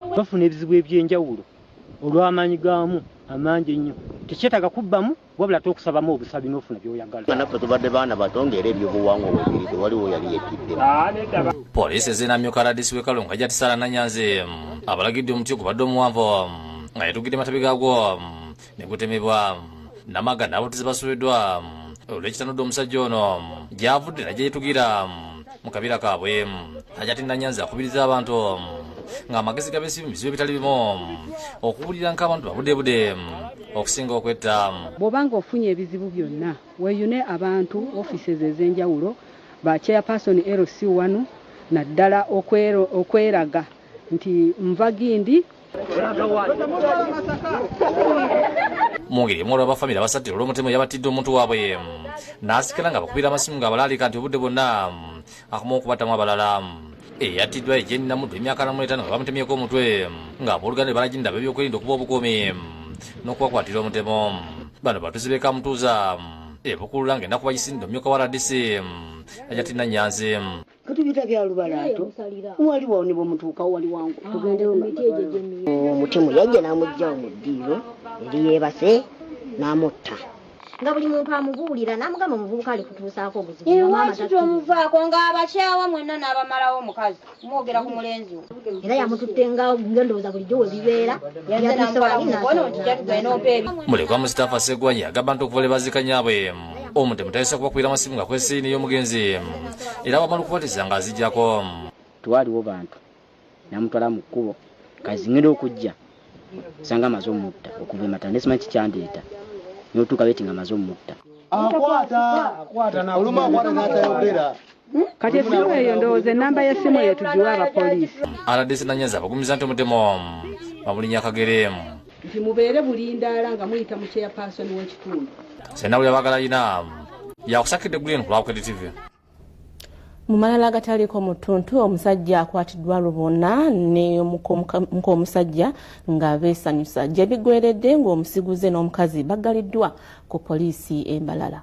bafuna ebizibu eby'enjawulo olw'amaanyi gaamu amangi ennyo. Tekyetaaga kubbamu wabula ate okusabamu obusabi n'ofuna by'oyagala. Naffe tubadde baana bato ng'era ebyobuwangwa we biri tewaliwo yali yetidde. Poliisi ezze n'amyuka RDC w'e Kalungu Hajjat Sarah Nanyanzi abalagidde omuti ogubadde omuwanvu nga yatuggidde matabi gaagwo ne gutemebwa namaga n'ababutuzi basubiddwa olw'ekitanudde omusajja ono gy'avudde najja yetugira mu kabira kaabwe najja tinna nyanzi akubiriza abantu ng'amagezi gabesi mu bizibu ebitali bimu okuwulira nk'abantu babudebude okusinga okwetta bw'oba nga ofunye ebizibu byonna weyune abantu offices ez'enjawulo ba chairperson lc wanu naddala okweraga nti nva gindi mungeri emu olwa bafamire abasattira olw'omutemu yabattidde omuntu waabwe n'asikala nga bakubira amasimu nga abalaalika nti obudde bwonna akoma okubattamu abalala eyattiddwa ejeni namuddu emyaka namu etaano nga bamutemyeko omutwe nga abooluganda ne balajinda ab'ebyokwerinda okuba obukuumi n'okubakwatira omutemu bano batuzi b'e kamutuuza ebukulula ng'ennaku bagisindde omumyuka wa rdc ajati nanyanzi katubita bya lubalaato wali wawo ne bwemutuukawo wali wangu ah, tugendeyo omutemu yajja n'amugjawo mu ddiiro eri yeebase n'amutta nga buli muntu amubuulira n'amugamba omuvubuka ali kutuusaako obuzibuomuvaako ng'abakyawa mwenna n'abamalawo omukazi mwogera ku mulenzi wo era yamututte nga ngendowooza bulijjo we bibeera mulekwa mustapha segwanya agamba nti okuva lwe bazika nyaabwe omutemu tayinza kubakubira masimu nga kwesiini y'omugenzi era bamala okubatiza nga azijjako twaliwo bantu namutwala mu kkubo kazingenda okujja sanga amaze omutta okuva emata nesimanyi kikyandeeta notuuka beti nga amaze omutta akwata oluma akwata natayogera Kati essimu eyo ndowooza ennamba y'essimu eyo tugiwe abapoliisi. Rdc Nanyazi abagumiza nti omutemu omu bamulinya akagere emu. Nti mubeere bulindaala nga muyita mu chairpersoni w'ekitundu. Sena buli abagala yina yakusakidde green ku Lwabukede TV. Mu malala agataliiko mu ttuntu omusajja akwatiddwa lubona ne muk'omusajja nga beesanyusa gye bigweredde ng'omusiguze n'omukazi baggaliddwa ku poliisi e Mbalala.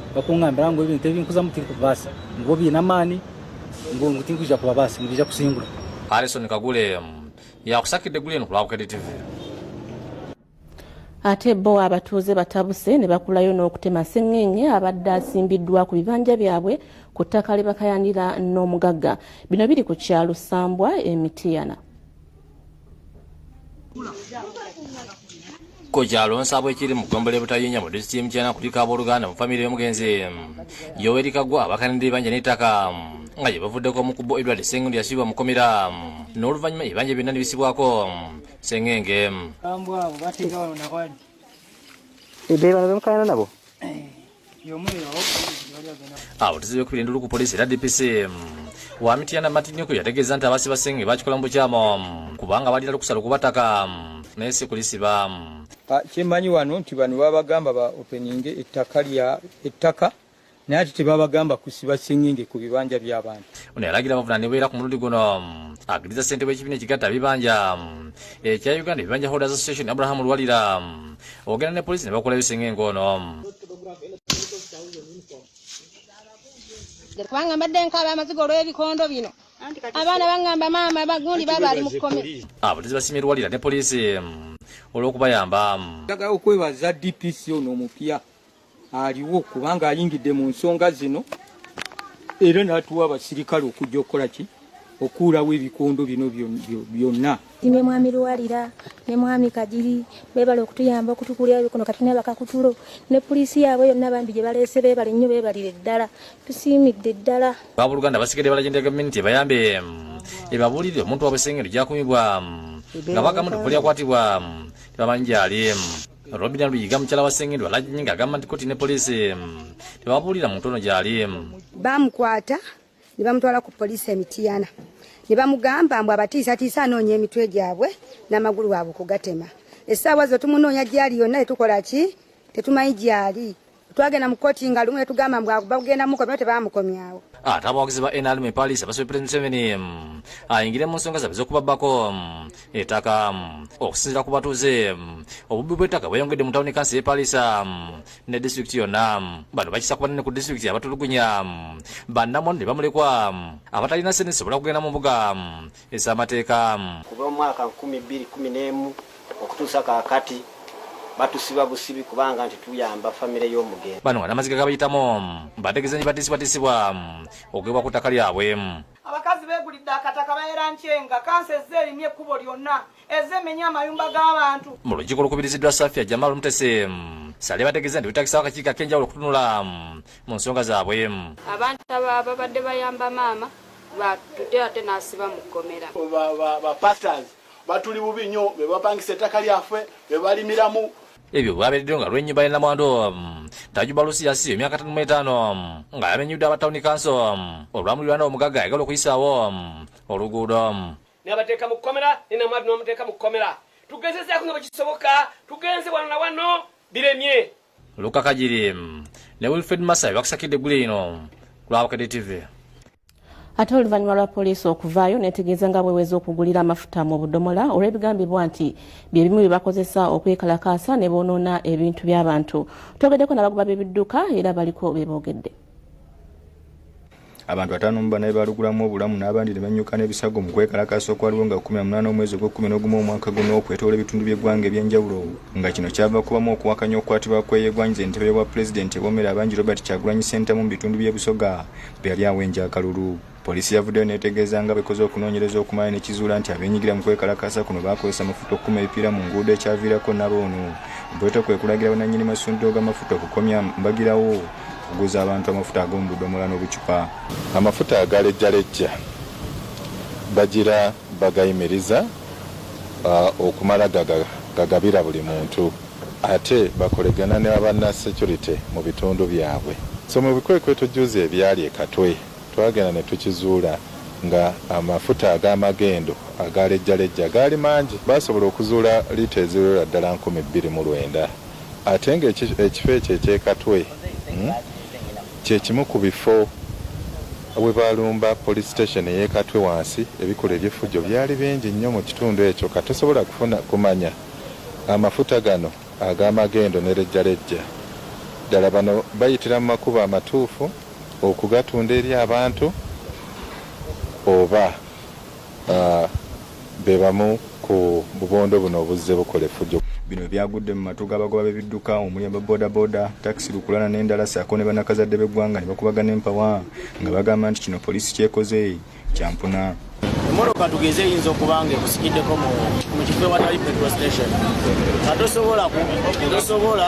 bakungambira ngu ebintu ebinkuzamu tinkubibasa ngu obiine amaani ngu ngu tinkwija kubabasa ngu bija kusingura harrison kagule yakusakidde guli eno ku lwabukede tv ate bo abatuuze batabuse ne bakulayo n'okutema sengenge abadde asimbiddwa ku bibanja byabwe ku ttaka lye bakayanira n'omugagga bino biri ku kyalo sambwa emitiyana ku kyalo nsabo ekiri mu ggombolola ebutayinya mu disitulikiti y'emukyana kuliko abooluganda mu famire y'omugenzi yoweri kagwa abakanidde ebanja n'ettaka nga gye bavuddeko omu ku bo edward sengundi yasibibwa mukomera n'oluvannyuma ebibanja byonna ne bisibwako sengenge ebyo bano bemukayana nabo eh. awo tuzibe kubira endulu ku poliisi era dpc wa mityana matinyuku yategeeza nti abasi basenge bakikola mu bukyamo kubanga balina lukusala okubataka naye si kulisiba ah, kyemanyi wano nti bano babagamba ba openinge ettaka lya ettaka naye ati tebabagamba kusiba singenge ku bibanja by'abantu ono yalagira abavunanibwa era ku mulundi guno agiriza ssente w'ekibiina ekigatta bibanja ekya eh, uganda ebibanja holders association abraham luwalira ogenda ne polisi ne bakulayo singa engoono kubanga mbadde nkaaba amaziga olw'ebikondo bino abaana baŋŋamba maama bagundi baba ali mu kkome abatezi ah, basimye erwalira ne poliisi mm, olw'okubayamba mm. njagala okwebaza dpc ono omupya aliwo kubanga ayingidde mu nsonga zino era n'atuwa abasirikale okujja okukola ki okuulawo ebikondo bino byonna ne mwami luwalira ne mwami kagiri bebale okutuyamba okutukulira ebikono kati nabakakutulo ne poliisi yaabwe yonna bambi gye baleese bebale nnyo bebalire ddala tusiimidde ddala baboluganda basigadde balajendera gavumenti ebayambe ebabulire omuntu wabwe sengeri gyakumibwa nga bagamu tekulyakwatibwa tebamanyi gyali Robina Luyiga mukyala wa Ssengendo Alagye ng'agamba nti kkooti ne poliisi mm, tebabuulira muntu ono gy'ali. Mm. Baamukwata ne bamutwala ku poliisi e Mityana ne bamugamba mbu abatiisatiisa anoonya emitwe gyabwe n'amagulu waabwe okugatema. Essaawa zo tumunoonya gy'ali yonna tetukola ki tetumanyi gy'ali. twagenda mu kkooti nga lumu netugamba mbu bagenda mukomyawo tebamukomyawo ate abawagizi ba nrm epalis abasabye president museveni ayingire mu nsonga zabe z'okubabbako ettaka okusinzira ku batuuze obubbi bw'ettaka bweyongedde mu tawuni kansi y'epalisa ne disitulikiti yonna bano bakisa ku banene ku disitulikiti abatulugunya bannamwandu ne bamulekwa abatalina sente zisobola kugenda mu mbuga ez'amateeka. Kuva mu mwaka nkumi bbiri kkumi n'emu okutuusa kaakati batusiba busibi kubanga nti tuyamba famire y'omugenzi. Bano nga n'amaziga gabayitamu bategeeza nti batisibwatisibwa okugibwa ku ttaka lyabwe. Abakazi beegulidde akataka baera nkyenga kansa ezze erimu ekkubo lyonna. ezemenya amayumba g'abantu mu lukiiko olukubiriziddwa safia jamal mutese sale bategeeza nti betagisawo akakiiko ak'enjawulo okutunula mu nsonga zaabwe abantu ababadde bayamba maama batute ate n'asiba mu kkomera bapastors batuli bubi nnyo be bapangisa ettaka lyaffe be balimiramu ebyo bwabereddeyo nga lw'ennyumba y'ennamwandu tajuba lusiyasi emyaka tano mu etaano nga yamenyudde aba tawuni kanso olwamulirwana omugagga ayagala okuyisaawo oluguudo nabateeka mu kkomera ne namwadu namuteeka mu kkomera tugezezaako nga bwekisoboka tugenze wano na wano biremye luka kagiri ne wilfred masayi bakusakidde eggule lino lwabukedde tv ate oluvannyuma lwa poliisi okuvaayo netegeeza nga bweweza okugulira amafuta mu budomola olw'ebigambibwa nti bye bimu bye bakozesa okwekalakaasa ne boonoona ebintu by'abantu twogeddeko nabagoba b'ebidduka era baliko be boogedde abantu ataano mu bana bebalugulamu obulamu n'abandi ne bannyuka n'ebisago mu kwekalakaasa okwaliwo nga kumi namunaana omwezi ogw'ekkumi n'ogumu omwaka guno okwetoola ebitundu by'eggwanga eby'enjawulo nga kino kyava kubamu okuwakanya okukwatibwa kweyegwanyiza entebe y'obwa pulezidenti ebomera abangi robert kyagulanyi sentamu mu bitundu by'e busoga bwe yali awenja akalulu poliisi yavuddeyo neetegeeza nga bekoze okunoonyereza okumala nekizuula nti abenyigira mu kwekalakaasa kuno baakozesa amafuta okukuma ebipiira mu nguudo ekyaviirako nabo ono bweta kwe kulagira bananyini masundiro g'amafuta okukomya mbagirawo okuguza abantu amafuta ag'omu budomola n'obucupa amafuta agalejjalejja bagira bagayimiriza uh, okumala gagabira buli muntu ate bakolegana ne abanna security mu bitundu byabwe so mu bikwekweto juzi ebyali ekatwe twagenda ne tukizuula nga amafuta ag'amagendo agalejjalejja gaali mangi baasobola okuzuula liita eziwerera ddala nkumi bbiri mu lwenda Ate nga ekifo ekyo eky'e Katwe kye kimu ku bifo we baalumba poliisi siteesheni ey'e Katwe wansi, ebikolwa eby'effujjo byali bingi nnyo mu kitundu ekyo. Ka tosobola kufuna kumanya amafuta gano ag'amagendo ne lejjalejja ddala bano bayitira mu makubo amatuufu okugatunda eri abantu oba. be bamu ku bubondo buno obuzze bukola effujo. Bino byagudde mu matu g'abagoba b'ebidduka omuli aba bodaboda, takisi, lukulana n'endala ssaako ne bannakazadde b'eggwanga ne bakubagana empawa nga bagamba nti kino poliisi ky'ekoze kyampuna. emmotoka tugeze eyinza okuba nga ekusikiddeko mu kifo ewatali petrol station nga tosobola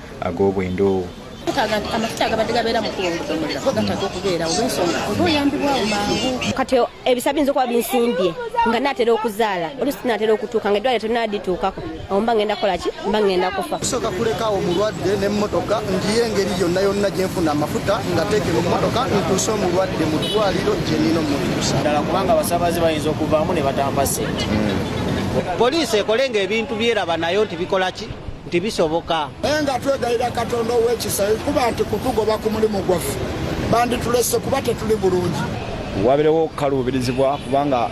ag'obwendoowo amafuta agabadde gabeera mukuwongotomulira go gataka okubeera olwensonga oba oyambibwawo mangu kati ebisa biyinza okuba binsimbye nga naatera okuzaala olusi naatera okutuuka nga eddwaliro tonadituukako awo mba ngenda kukola ki mba ngenda kufa kusooka kulekaawo omulwadde n'emmotoka ngiyo engeri yonna yonna gye nfuna amafuta nga teekera ommotoka ntuuse omulwadde mu ddwaliro gye nina omutuusa ddala kubanga abasaabaze bayinza okuvaamu ne batampa ssente hmm. poliisi ekolenga ebintu byeraba nayo nti bikola ki nti bisoboka naye nga twegayira katonda ow'ekisa kuba nti kutugoba ku mulimu gwaffe banditulese kuba tetuli bulungi wabirewo okukaluubirizibwa kubanga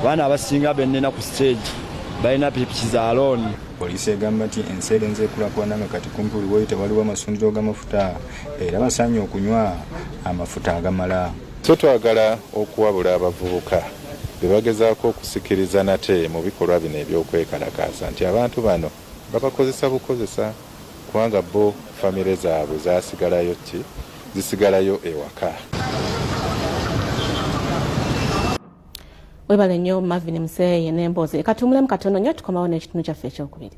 abaana abasinga benina ku siteegi balina pikipiki za looni poliisi egamba nti ensi erenze ekulakulana nga kati kumpi buli woyita waliwo amasundiro g'amafuta era basaanye okunywa amafuta agamala so twagala okuwabula abavubuka bebagezaako okusikiriza nate mu bikolwa bino eby'okwekalakaasa nti abantu bano babakozesa bukozesa kubanga bbo famire zaabwe zasigalayo kki zisigalayo ewaka. webale nnyo mavin museeye n'emboozi leka tuwumulemu katono nnyo tukomawo n'ekitundu kyaffe ekyokubiri